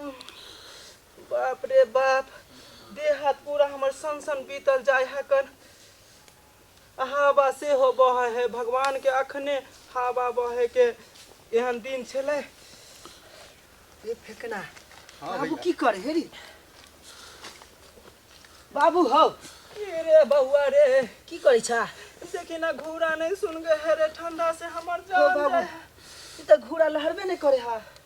बाप रे बाप देह हाथ पूरा हमर सन सन बीतल जाय है कन हवा से हो बह है भगवान के अखने हवा बहे के एहन दिन छले ये फेकना हाँ बाबू की कर हेरी बाबू हो रे बउआ रे की करे छा देखी ना घूरा नहीं सुन गए है रे ठंडा से हमर जान बाबू ई त घूरा लहरबे नहीं करे हा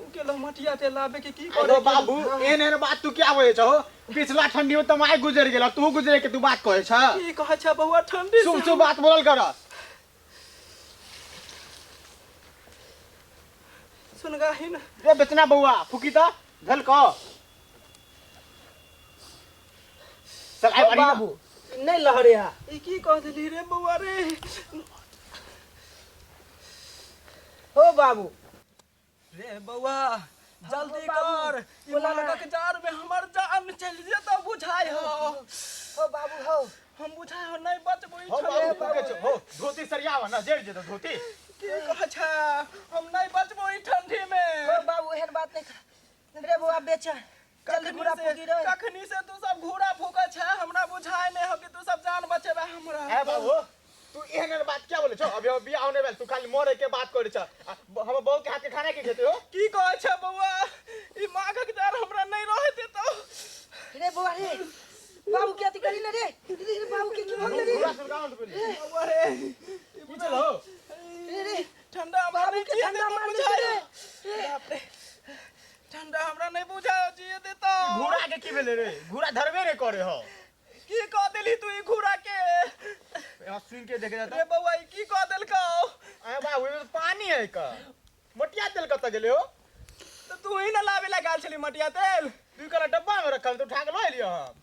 उ गेलो मटिया ते लाबे के की अरे करे बाबू एहन एहन बात तू क्या बोले छहो पिछला ठंडी में तो माय गुजर गेल तू गुजरे के तू बात कहे छ की कहे छ बौआ ठंडी शुभ शुभ बात बोलल कर सुन गाही न रे बेचना बउआ फुकी त भेल क चल आइ बारी बाबू नहीं लहरे हा ई की कह देली रे बौआ रे हो बाबू रे बौआ जल्दी कर ई मालकक जार में हमर जान चलि जेतौ बुझाय हो हो बाबू हो हम बुझाय हो नहि बचबो ई हो छले बाबू बाबू। के छो हो धोती सरियावा ना जेड़ जेतो धोती की कहै छै हम नहि बचबो ई ठंडी में हो बाबू एहन बात नहीं रे बौआ बेच जल्दी कखनी घूरा से- फूकी रे कखनी से तू सब घूरा फूकै छै हमरा बुझाय नहि हो कि तू सब जान बचेबे हमरा ए बाबू तू एहन एहन बात क्या बोले छो अभी हम बियाह होने वाला तू खाली मरे के बात करे छ आ, ब- हमर बहू के हाथ के खाना के खेते हो की कहै छै बौआ ई माघक डर हमरा नहि रहै देतौ रे बौआ रे बाबू के अथी करी ना रे रे बाबू के की भगले रे पूरा सुनगांव पे बौआ रे ई की चलो रे रे ठंडा हमरा नहीं जिए ठंडा देता मार बुझाए दे रे। बाप रे ठंडा हमरा नहीं बुझाए जिए देता घोड़ा के की भेले रे घोड़ा धरबे रे करे हो की कह देली तू ई घूरा के यहाँ सुन के देखे जाता रे बउआ ई की कह देलका अरे बाबू ये तो पानी है का मटिया तेल कत गेले हो तो तू ही ना लावे ला गाल छली मटिया तेल तू करा डब्बा में रखल तो उठा के लो लियो हम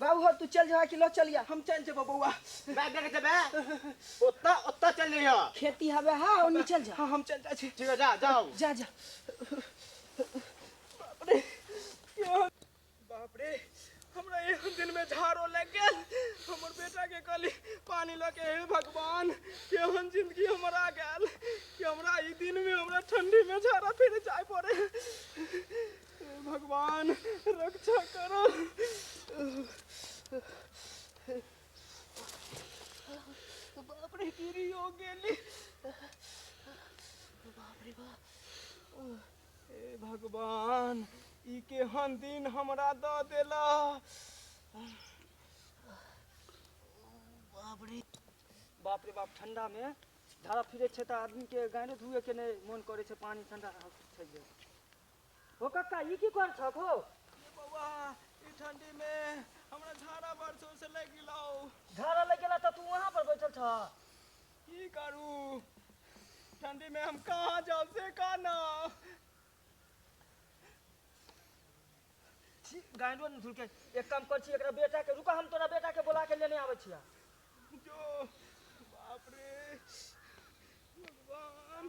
बाबू हो तू चल जा कि लो चलिया हम चल जेबो बौआ बैग लेके जेबे ओत्ता ओत्ता चल रही हो खेती हवे हा और नहीं चल जा हाँ हम चल जा छी ठीक है जा जाओ जा जा बाप रे यो- बाप रे हमरा एक दिन में झाड़ो लग गेल हमर बेटा के कहली पानी लऽ के हे भगवान केहन जिंदगी हमर आ गेल कि हमरा ई दिन में हमरा ठंडी में झाड़ा फिर जाय पड़े भगवान रक्षा करो बाप रे गिरी हो गेली बाप रे बाप हे भगवान ई केहन दिन हमरा दऽ देला बाप रे बाप रे बाप ठंडा में धारा फिरे छै तऽ आदमी के गाड़ो धुए के नहि मोन करे छै पानी ठंडा छै जे। हो कक्का ई की कर छक हो ए बौआ ई ठंडी में हमरा झाड़ा बड़ जोर से लग गेलौ झाड़ा लग गेला त तू वहां पर बैठल छ की करू ठंडी में हम कहाँ जाऊ से काना छी गांडो न झुलके एक काम कर छी एकरा बेटा के रुका हम तोरा बेटा के बुला के लेने आबै छिया जो बाप रे भगवान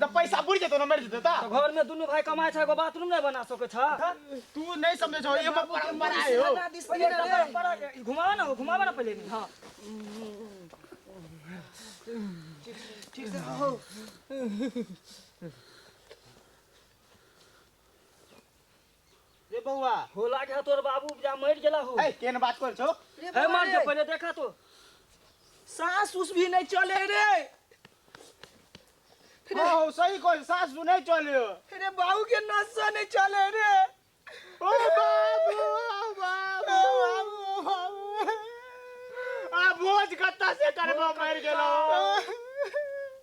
तऽ पैसा बुढ़ जेतौ ना मरि जेतौ तऽ तो घर में दुनू भाई कमाए छे एगो बाथरूम नहीं बना सके छे तू नहीं समझे छौ एगो परंपरा है हो हमरा दिस पहिले ना रे। परंपरा के- ई घुमावा ना हो घुमावा ना पहले हाँ ठीक से हो रे बौआ होला के तोर बाबू जा मर गेला हो ए केन बात कर छो रे हे मर जा पहिले देखा तो सास उस भी नहीं चले रे ओ सही कोई सास भी नहीं चले रे बाबू के नसा नहीं चले रे ओ बाबू ओ बाबू ओ बाबू आ भोज कत्ता से करबो मर गेलो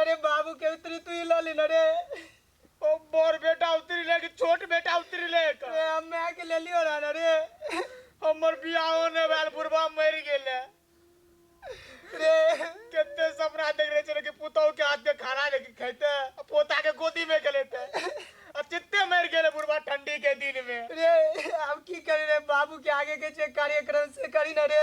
अरे बाबू के उतरी तू ही लली ना रे ओ बड़ बेटा उतरी ले कि छोट बेटा उतरी ले का अरे हमें आके ले लियो ना ना रे हमर बियाहो ने बाल बुढ़वा मर गेले रे केते सपना देख रहे छे कि पुतौ के हाथ में खाना लेके खैते आ पोता के गोदी में के लेते अब चित्ते मर गेले बुढ़वा ठंडी के दिन में रे अब की करे रे बाबू के आगे के जे कार्यक्रम से करी ना रे